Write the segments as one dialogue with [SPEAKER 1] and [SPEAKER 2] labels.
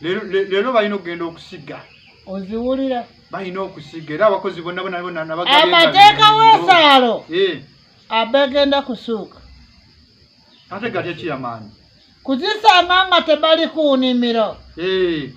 [SPEAKER 1] leero balina okugenda okusiga oziwulira
[SPEAKER 2] balina okusiga
[SPEAKER 1] era abakozi bonna bonabonamateeka
[SPEAKER 2] wesaalo eh. abegenda kusuuka
[SPEAKER 1] ate gali ekiyamaanyi kuzisanga
[SPEAKER 2] nga tebali ku nimiro eh.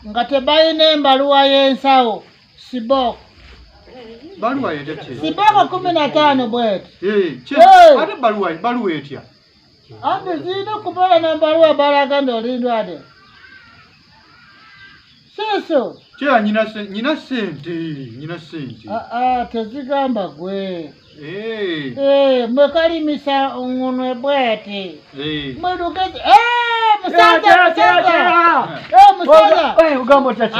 [SPEAKER 2] nga tebalina embaluwa y'ensawo sibok
[SPEAKER 1] siboko kumi na
[SPEAKER 2] tano bweti eh, ate
[SPEAKER 1] baluwa etya anti
[SPEAKER 2] zirina okubeera nambaliwo abala agambye oli ndwade siso kira
[SPEAKER 1] nyina sente nyina sente ah, ah,
[SPEAKER 2] tezigamba gwe eh. Eh, mwekalimisa ngunwe bwati eh. mwedugezi musaza musaza musaza ogamba otaki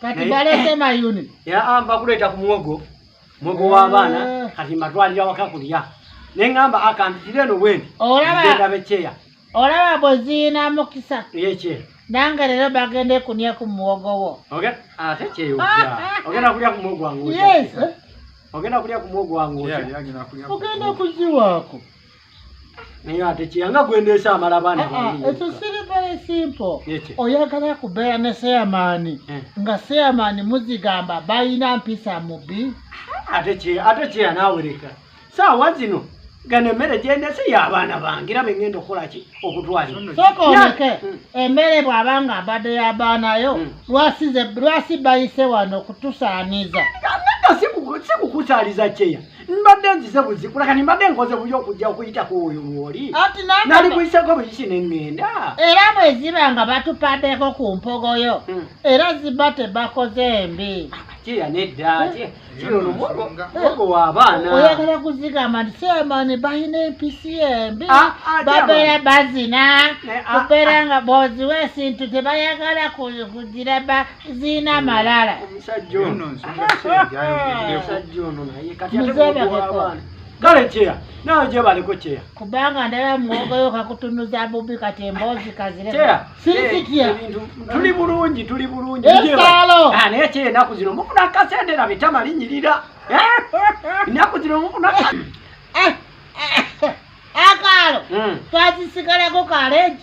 [SPEAKER 3] kati balese
[SPEAKER 2] mayuni yaamba kuleeta
[SPEAKER 3] ku muwogo muwogo w'abaana eh. kati mbatwalira waka kulya ne ŋŋamba akantitire eno bwendi genda bekyeya olaba
[SPEAKER 2] bweziina mukisa yekye nange
[SPEAKER 3] leero
[SPEAKER 2] bagende kunya ku muwogo wo ate kyeyo
[SPEAKER 3] ogenda kulya ku muwogo wange
[SPEAKER 2] ogenda kulya
[SPEAKER 3] ku muwogo wange ogenda
[SPEAKER 2] kuziwaako
[SPEAKER 3] naye ate kiyanga gwendeesa amala baana ah, ah, ekyo siri
[SPEAKER 2] very simple oyagala kubeera ne seyamaani eh. nga seyamaani muzigamba balina mpisa mubi ah,
[SPEAKER 3] ate kyeya nawereka saawa zino gano emmere gyendese y'abaana bange era bengenda okukolaki okutwalirasooka oleke
[SPEAKER 2] hmm. emmere bw'aba nga abadde y'abaanayo hmm. lwasi bayise wano okutusaaniza sikukusaaliza
[SPEAKER 3] kyeya mbadde nzize buzikula kani mbadde nkoze buyo okujja okuyitako oyo wooli nali kuyisako buyisi nengenda era bwe ziba
[SPEAKER 2] nga batupaddeko ku mpogoyo hmm. era ziba tebakoze mbi kyeya nedda
[SPEAKER 3] eh. kino nomugo eh. wa abaana oyagala kuzigamba
[SPEAKER 2] nti semani balina empisi embi ah, ah, babeera bazina eh, ah, kubeera nga boziwa esintu tebayagala kugira ziina amalala omusajja
[SPEAKER 3] ono omusajja ono naye kati ategeabaana kale kyeya nawe gyebaleko kyeya kubanga ndala
[SPEAKER 2] mwogoyo kakutunuza bubi kati emboozi kazireya sirikitya tuli
[SPEAKER 3] bulungi tuli bulungi esaalo
[SPEAKER 2] ah, naye kyeya enaku
[SPEAKER 3] zino mufuna akasente na bitama linyirira enaku zino mufuna eh, eh, eh,
[SPEAKER 2] akaalo hmm. twazisigalako kaleji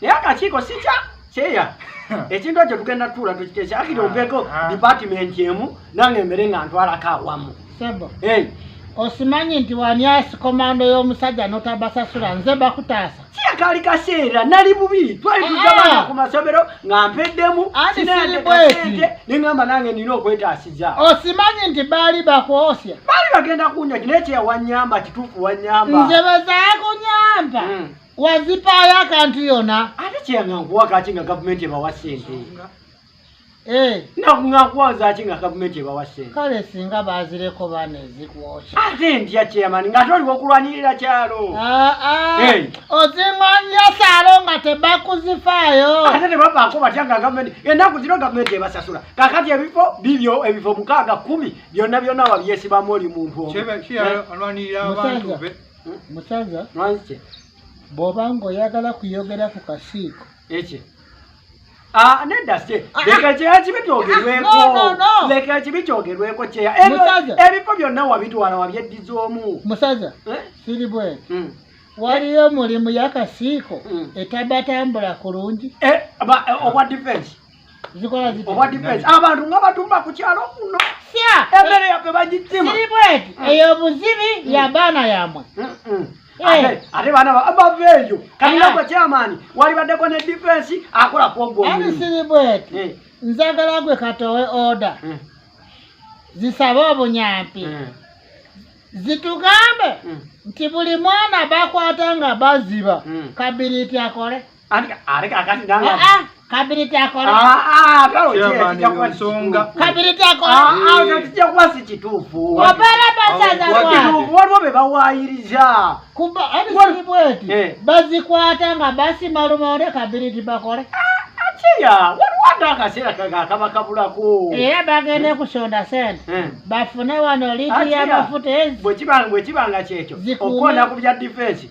[SPEAKER 3] naye akakiiko sikya kyeya ekintu ekyo tugenda tuula tukiteesa akiri ompeko ah, ah. dipatimenti emu nange emere nga ntwalako awamu sebo
[SPEAKER 2] osimanyi nti wanyasi komando y'omusajja notabasasula nze bakutaasa kiyakaali kaseera
[SPEAKER 3] nali bubi twali tuzabana ah. ku masomero nga mpeddemu sinayatekasente nengamba nange nina okwetaasiza osimanyi nti
[SPEAKER 2] baali bakwosya baali bagenda
[SPEAKER 3] kunyaki naye kyeyawanyamba kituufu wanyamba nze bezakunyamba
[SPEAKER 2] hmm. wazipaayo akantu yona ate kyeyanga nkuwa
[SPEAKER 3] kaki nga gavumenti ebawa sente eh. nakuwazaki nga gavumenti ebawa sente kale singa bazireko
[SPEAKER 2] bane zikwoca ate ntya
[SPEAKER 3] chairman nga toliwo okulwanirira kyalo ah, ah. eh. ozinganya
[SPEAKER 2] salo nga tebakuzifaayo ate tebabaako
[SPEAKER 3] batya nga gavumenti enaku zino gavumenti ebasasula kakati ebifo bibyo ebifo mukaaga kumi byonna byonna wabyesibamu oli muntu omu
[SPEAKER 2] musaza mwanzike
[SPEAKER 3] bwoba
[SPEAKER 2] ng'oyagala kuyogera ku kasiiko eki
[SPEAKER 3] ah, nedda se ah, ah. leka kyeya kibi kyogerweko leka kibi kyogerweko kyeya ebifo byonna wabitwala wabyeddiza omu
[SPEAKER 2] musaza
[SPEAKER 3] eh? siri
[SPEAKER 2] bwene
[SPEAKER 3] hmm.
[SPEAKER 2] waliyo omulimu yakasiiko hmm. etabatambula kulungi eh, eh, obwa
[SPEAKER 3] defense zikola ziti
[SPEAKER 2] obwa defense abantu nga
[SPEAKER 3] batumba ku kyalo kuno sya ebere ya
[SPEAKER 2] pe bajitima
[SPEAKER 3] siri bwetu mm. eyo
[SPEAKER 2] buzibi mm. ya bana yamwe eh.
[SPEAKER 3] ate bana baveeyo kanina gwe kyamaani walibaddeko ne defense akola kwogwo ani siri bwetu
[SPEAKER 2] eh. nzagala gwe katowe order eh. zisabe obunyampi zitugambe nti buli mwana bakwata nga baziba kabiriiti akole ate kakati nanga ah, ah, kabiri takola ah, kabiri takolakijja kuba si
[SPEAKER 3] kituufu obeera basaza
[SPEAKER 2] waliwo be
[SPEAKER 3] bawaayiriza kuba ebisibi
[SPEAKER 2] bweti eh. bazikwata nga basima lumonde kabiri tibakole kyeya
[SPEAKER 3] waliwo ate akaseera kakaba kabulako era bagende
[SPEAKER 2] kusonda sente eh. bafune wano liiti y'amafuta ezi bwekiba nga
[SPEAKER 3] kyekyo okukoona ku bya difensi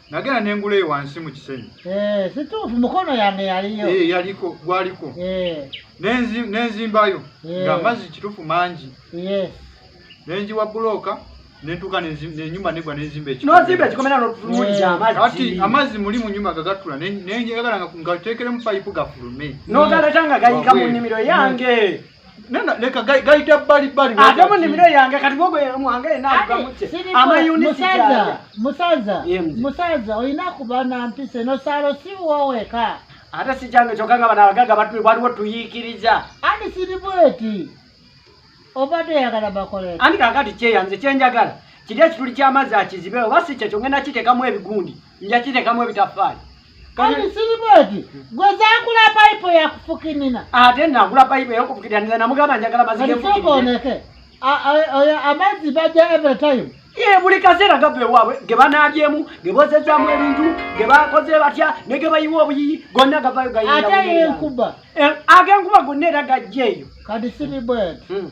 [SPEAKER 1] nagenda nengula eyo wansi mu kisenyi eh, situufu
[SPEAKER 2] mukono yange yaliyo eh, yaliko gwaliko
[SPEAKER 1] eh. nenzimbayo nga amazzi kituufu mangi nenjiwa bulooka nentuka nenyumba negwa nenzimba ekiati
[SPEAKER 3] amazzi muli mu
[SPEAKER 1] nyumba gagatula nenjagala nga teekeremu payipu gafulume nogaletanga gayika
[SPEAKER 3] mu nnimiro yange nana leka
[SPEAKER 1] gaita bali bali ate mu nimiro yange
[SPEAKER 3] kati bogo mwange ena agamutse ama unit musaza musaza
[SPEAKER 2] musaza oyina kuba na mpise no salo si wowe ka ate si jange
[SPEAKER 3] chokanga bana bagaga batu waliwo tuyikiriza ani siri
[SPEAKER 2] bweti obadde yagala bakole ani kakati kyeyanze
[SPEAKER 3] kyenjagala kirya kituli ky'amazzi akizibe oba si kyekyo ngenda kiteekamu ebigundi njakitekamu ebitaffaali kati
[SPEAKER 2] siribweti gwe zakula payipo yakufukinina ate nagula
[SPEAKER 3] payipo yakufukinina namugamba njagala mazigeoneke
[SPEAKER 2] amazzi baja every time ye buli kaseera
[SPEAKER 3] gava ewaabwe ge banaabyemu ge bozezamu ebintu ge bakoze batya ne ge bayiwa obuyiyi gonna gavayo gaate yenkuba
[SPEAKER 2] eh, agenkuba
[SPEAKER 3] gonna era gajja eyo kati siribweti
[SPEAKER 2] hmm.